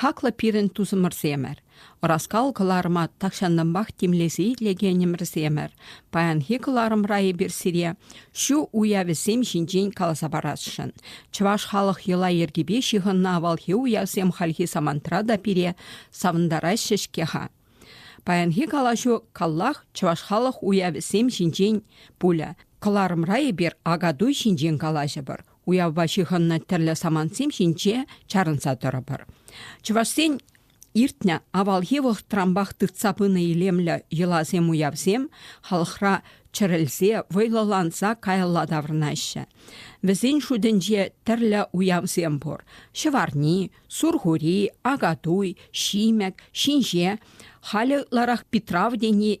Хаклӑ пирӗн тусӑмӑрсемӗр, ӑраскал кӑларӑма тахҫанлӑнпах тимлесе итлекенӗмӗрсемӗр, паянхи кӑларӑмра эпир сире ҫу уявӗсем ҫинчен каласа парасшӑн. Чӑваш халӑх йӑла-йӗркипе ҫыхӑннӑ авалхи уявсем хальхи самантра та пире савӑнтараҫҫӗ-ҫке-ха. Паянхи калаҫу каллах чӑваш халӑх уявӗсем ҫинчен пулӗ. Кӑларӑмра эпир акатуй ҫинчен калаҫӑпӑр, уявпа ҫыхӑннӑ тӗрлӗ самантсем ҫинче чарӑнса тӑрӑпӑр. Чӑвашсен иртнӗ авалхи вӑхӑтранпах тытса пынӑ илемлӗ йӑласем-уявсем халӑхра чӗрӗлсе, вӑйлӑланса каялла таврӑнаҫҫӗ. Вӗсен шутӗнче тӗрлӗ уявсем пур. Ҫӑварни, Сурхури, Акатуй, Ҫимӗк, Ҫинҫе, халӗ ытларах Питрав тени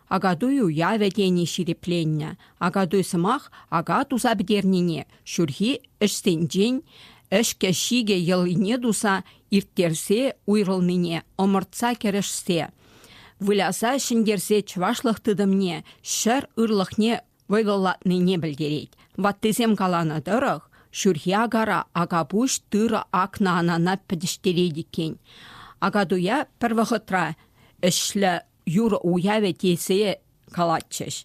Акатуй уявӗ тени ҫирӗпленнӗ. Акатуй сӑмах ака туса пӗтернине, ҫурхи ӗҫсенчен ӗҫкӗ-ҫикӗ йӑлине туса ирттерсе уйрӑлнине ӑмӑртса кӗрешсе, выляса ҫӗнтерсе чӑвашлӑх тытӑмне, ҫӗр ырлӑхне вӑйлӑлатнине пӗлтерет. Ваттисем каланӑ тӑрӑх, ҫурхи акара акапуҫ тырӑ акнӑ анана пӗтӗҫтерет иккен. Акатуя пӗр вӑхӑтра ӗҫлӗ юрӑ уявӗ тесе калатчӗҫ.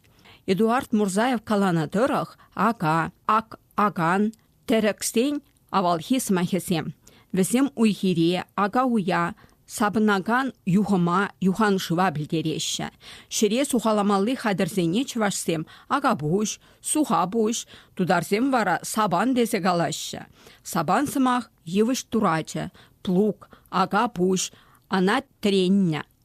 Эдуард Мурзаев каланӑ тӑрӑх, ака, ак акан, тӗрӗксен авалхи сӑмахӗсем. Вӗсем уй-хире, ака-уя, сапӑнакан юхӑма, юханшыва пӗлтереҫҫӗ. Ҫӗре сухаламалли хатӗрсене чӑвашсем акапуҫ, сухапуҫ, тутарсем вара сабан тесе калаҫҫӗ. Сабан сӑмах йывӑҫ турачӗ, плуг, акапуҫ, ана треннӗ.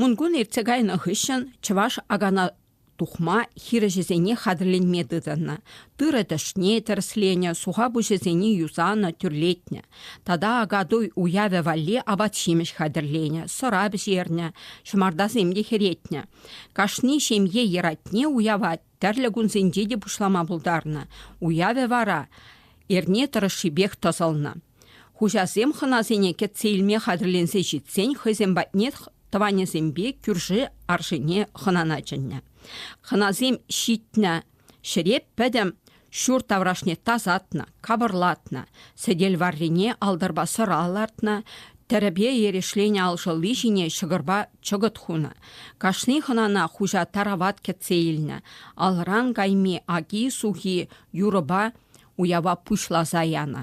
Мункун иртсе кайнӑ хыҫҫӑн чӑваш акана тухма хирӗҫӗсене хатӗрленме тытӑннӑ. Тырӑ тӗшне тӗрӗсленӗ, суха пуҫӗсене юсанӑ, тӳрлетнӗ. Тата Акатуй уявӗ валли апат-ҫимӗҫ хатӗрленӗ, сӑра пӗҫернӗ, ҫӑмартасем те хӗретнӗ. Кашни ҫемье йӑратне уява тӗрлӗ кунсенче те пуҫлама пултарнӑ. Уявӗ вара эрне тӑрӑшшипех тӑсӑлнӑ. Хуҫасем хӑнасене кӗтсе илме хатӗрленсе ҫитсен хӑйсем патне тӑванӗсемпе кӳрши аршине хӑнана чӗннӗ. Хӑнасем ҫитнӗ ҫӗре пӗтӗм ҫур таврашне тасатнӑ, капӑрлатнӑ, сӗтел варрине алтӑрпа сӑра лартнӑ, тӗрӗпе эрешленӗ алшӑлли ҫине ҫӑкӑрпа чӑкӑт хунӑ. Кашни хӑнана хуҫа тарават кӗтсе илнӗ, алран кайми аки-сухи юрӑпа уява пуҫласа янӑ.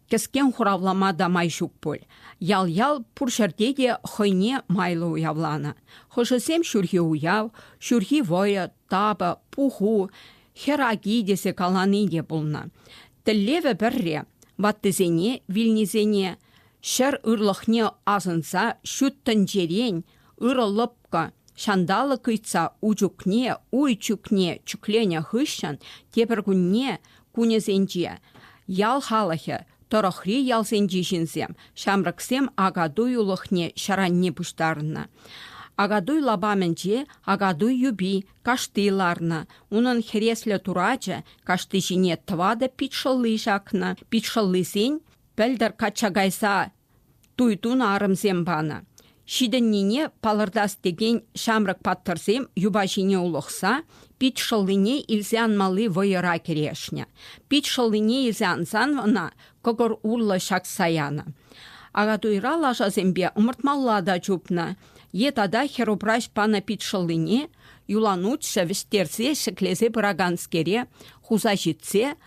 Кӗскен хуравлама та май ҫук пуль. Ял-ял пур ҫӗрте те хӑйне майлӑ уявланӑ. Хӑшӗсем ҫурхи уяв, ҫурхи вӑйӑ, тапӑ, пуху, хӗр аки тесе калани те пулнӑ. Тӗллевӗ пӗрре, ваттисене, вилнисене, ҫӗр ырлӑхне асӑнса ҫут тӗнчерен Ырӑ лӑпкӑ, ҫанталӑк ыйтса у чухне, уй чӳкне чӳкленӗ хыҫҫӑн тепӗр кунне кунӗсенче ял халӑхӗ тӑрӑхри ялсенчи ҫынсем, ҫамрӑксем акатуйлӑхне ҫаранне пуҫтарнӑ. Акатуй лапамӗнче акатуй юпи кашти ларнӑ. Унӑн хӗреслӗ турачӗ кашти ҫине тӑватӑ пит шӑлли ҫакнӑ. Пит шӑллисен пӗлтӗр качча кайса туйтун арӑмсем панӑ. Ҫитӗннине палӑртас текен ҫамрӑк паттӑрсем юпа ҫине улӑхса пит шӑллине илсе анмалли вӑйӑра кӗрешнӗ. Пит шӑллине илсе ансан ӑна кӑкӑр урлӑ ҫакса янӑ. Акатуйра лашасемпе ӑмӑртмалла та чупнӑ. Е тата хӗрупраҫ панӑ пит шӑллине юланутҫӑ вӗҫтерсе ҫӗклесе пыраканскере хуса ҫитсе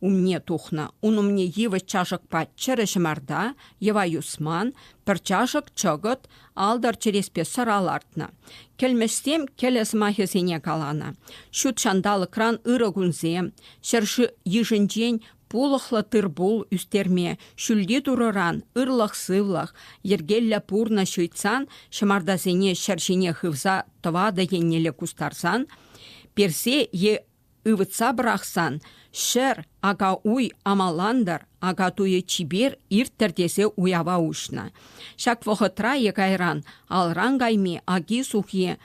умне тухнӑ, ун умне йывӑҫ чашӑкпа чӗрӗ ҫӑмарта, йӑва юсман, пӗр чашӑк чӑкӑт, алтӑр чӗреспе сӑра лартнӑ. Кӗлмӗҫсем кӗлӗ сӑмахӗсене каланӑ. Ҫут ҫанталӑкран ырӑ кунсем, ҫӗр йышӗнчен пулӑхлӑ тыр-пул ӳстерме, ҫӳлти Турӑран ырлӑх-сывлӑх, йӗркеллӗ пурнӑҫ ыйтсан, ҫӑмартасене ҫӗр ҫине хывса тӑватӑ еннелле кустарсан, персе е Ывӑтса пӑрахсан, ҫӗр, ака-уй, амалантӑр, ака-туйӗ чипер ирттӗр тесе уява уҫнӑ. Ҫак вӑхӑтра е кайран алран кайми аки-сухи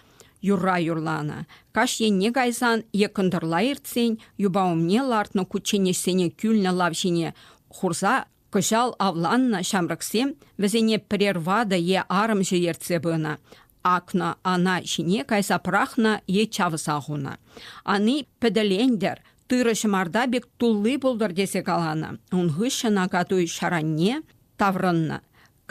юрра юрланӑ. Каҫ енне кайсан е кӑнтӑрла иртсен юпа умне лартнӑ кучченеҫсене кӳлнӗ лав ҫине хурса Кӑҫал авланнӑ ҫамрӑксем вӗсене пӗрер ватӑ е арӑмҫӑ ертсе пынӑ, акнӑ, ана ҫине кайса пӑрахнӑ е чавса хунӑ. Ани пӗтӗлентӗр, тырӑ ҫӑмарта пек тулли пултӑр тесе каланӑ. Ун хыҫҫӑн акатуй ҫаранне таврӑннӑ.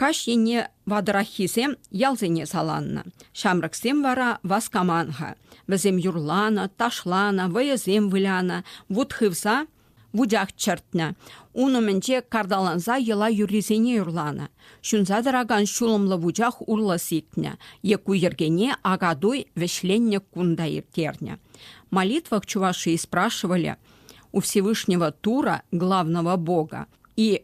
Каҫ енне ватӑраххисем ялсене саланнӑ. Ҫамрӑксем вара васкаман-ха. Вӗсем юрланӑ, ташланӑ, вӑйӑсем вылянӑ, вут хывса вутях чӗртнӗ. Ун умӗнче карталанса йӑла юррисене юрланӑ. Ҫунса тӑракан ҫулӑмлӑ вучах урлӑ сикнӗ е ку йӗркене акатуй вӗҫленнӗ кун та ирттернӗ. Молитвах чувашии спрашивали у Всевышнего Тура, главного Бога, и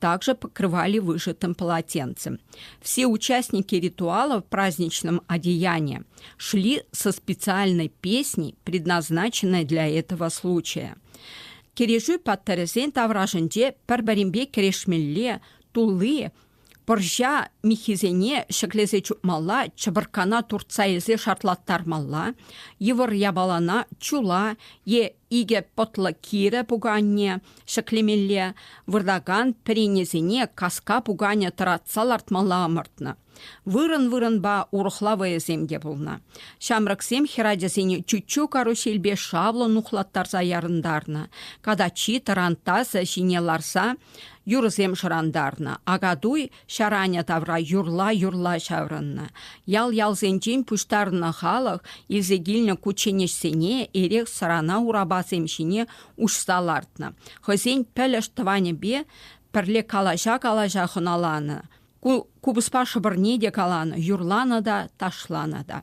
Также покрывали вышитым полотенцем. Все участники ритуала в праздничном одеянии шли со специальной песней, предназначенной для этого случая. Кирежӳ паттӑрӗсен таврашӗнче пӗр-пӗринпе кӗрешмелле тулли пӑрҫа миххисене ҫӗклесе чупмалла, чӑпӑрккана туртса илсе шартлаттармалла, йывӑр япалана чула е Икӗ пӑтлӑ кирӗ пуканне ҫӗклемелле, выртакан пӗренесене каска пуканӗ тӑратса лартмалла ӑмӑртнӑ. Вырӑн-вырӑнпа урӑхла вӑйӑсем те пулнӑ. Ҫамрӑксем хӗрачасене чуччу карусельпе шавлӑ нухлаттарса ярӑнтарнӑ, катаччи тарантасӗ ҫине ларса юрӑсем шӑрантарнӑ, акатуй Ҫаранӗ тавра юрла-юрла ҫаврӑннӑ. Ял-ялсенчен пуҫтарнӑ халӑх илсе килнӗ кучченеҫсене эрех-сӑрана урапасем ҫине уҫса лартнӑ, хӑйсен пӗлӗш тӑванӗпе пӗрле калаҫа-калаҫа хӑналанӑ, купӑспа шӑпӑрне те каланӑ, юрланӑ та, ташланӑ та.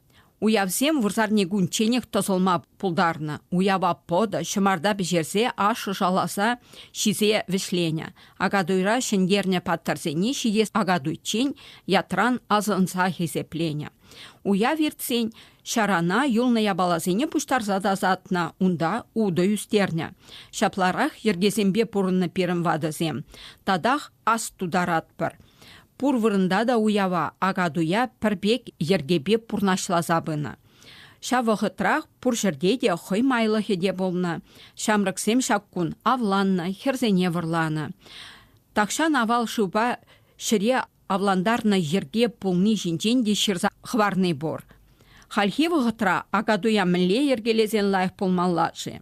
Уявсем вырсарни кунчченех тӑсӑлма пултарнӑ. Уява пӑтӑ, ҫӑмарта пӗҫерсе, ашшӗ шаласа ҫисе вӗҫленӗ. Акатуйра ҫӗнтернӗ паттӑрсене ҫитес акатуйччен ятран асӑнса хисепленӗ. Уяв иртсен ҫарана юлнӑ япаласене пуҫтарса тасатнӑ, унта утӑ ӳстернӗ. Ҫапларах йӗркесемпе пурӑннӑ пирӗн ватӑсем. Татах ас тутаратпӑр. Пур вырӑнта та уява ака-туя пӗр пек йӗркепе пурнаҫласа пынӑ. Ҫав вӑхӑтрах пур ҫӗрте те хӑй майлӑхӗ те пулнӑ. Ҫамрӑксем ҫак кун авланнӑ, хӗрсене вӑрланӑ. Тахҫан авал шывпа ҫӗре авлантарнӑ йӗрке пулни ҫинчен те ҫырса хӑварни пур. Хальхи вӑхӑтра ака-туя мӗнле йӗркелесен лайӑх пулмалла-ши?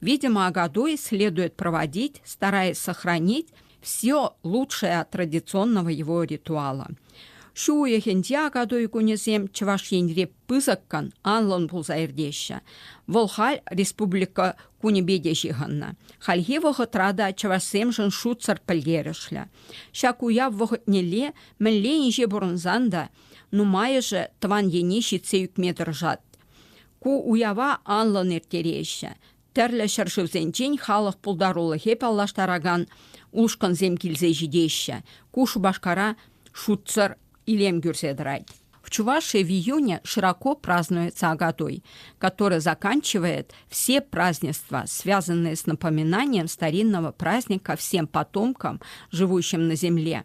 Видимо, Агадой следует проводить, стараясь сохранить все лучшее от традиционного его ритуала. Ҫу уйӑхӗнче Агадой кунӗсем Чӑваш Енре пысӑккӑн анлӑн пулса иртеҫҫӗ. Вӑл халь республика кунӗпе те ҫыхӑннӑ. Хальхи вӑхӑтра та чӑвашсемшӗн шутсӑр пӗлтерӗшлӗ. Ҫак уяв вӑхӑтнелле мӗнле инҫе пурӑнсан та нумайӑшӗ тӑван ене ҫитсе ӳкме тӑрӑшать. Ку уява анлӑн ирттереҫҫӗ, тӗрлӗ ҫӗршывсенчен халӑх пултарулӑхе паллаштаракан ушкӑнсем килсе ҫитеҫҫӗ. Ку Шупашкара шутсӑр илем кӳрсе тӑрать. В Чувашии в июне широко празднуется Агатуй, который заканчивает все празднества, связанные с напоминанием старинного праздника всем потомкам, живущим на земле,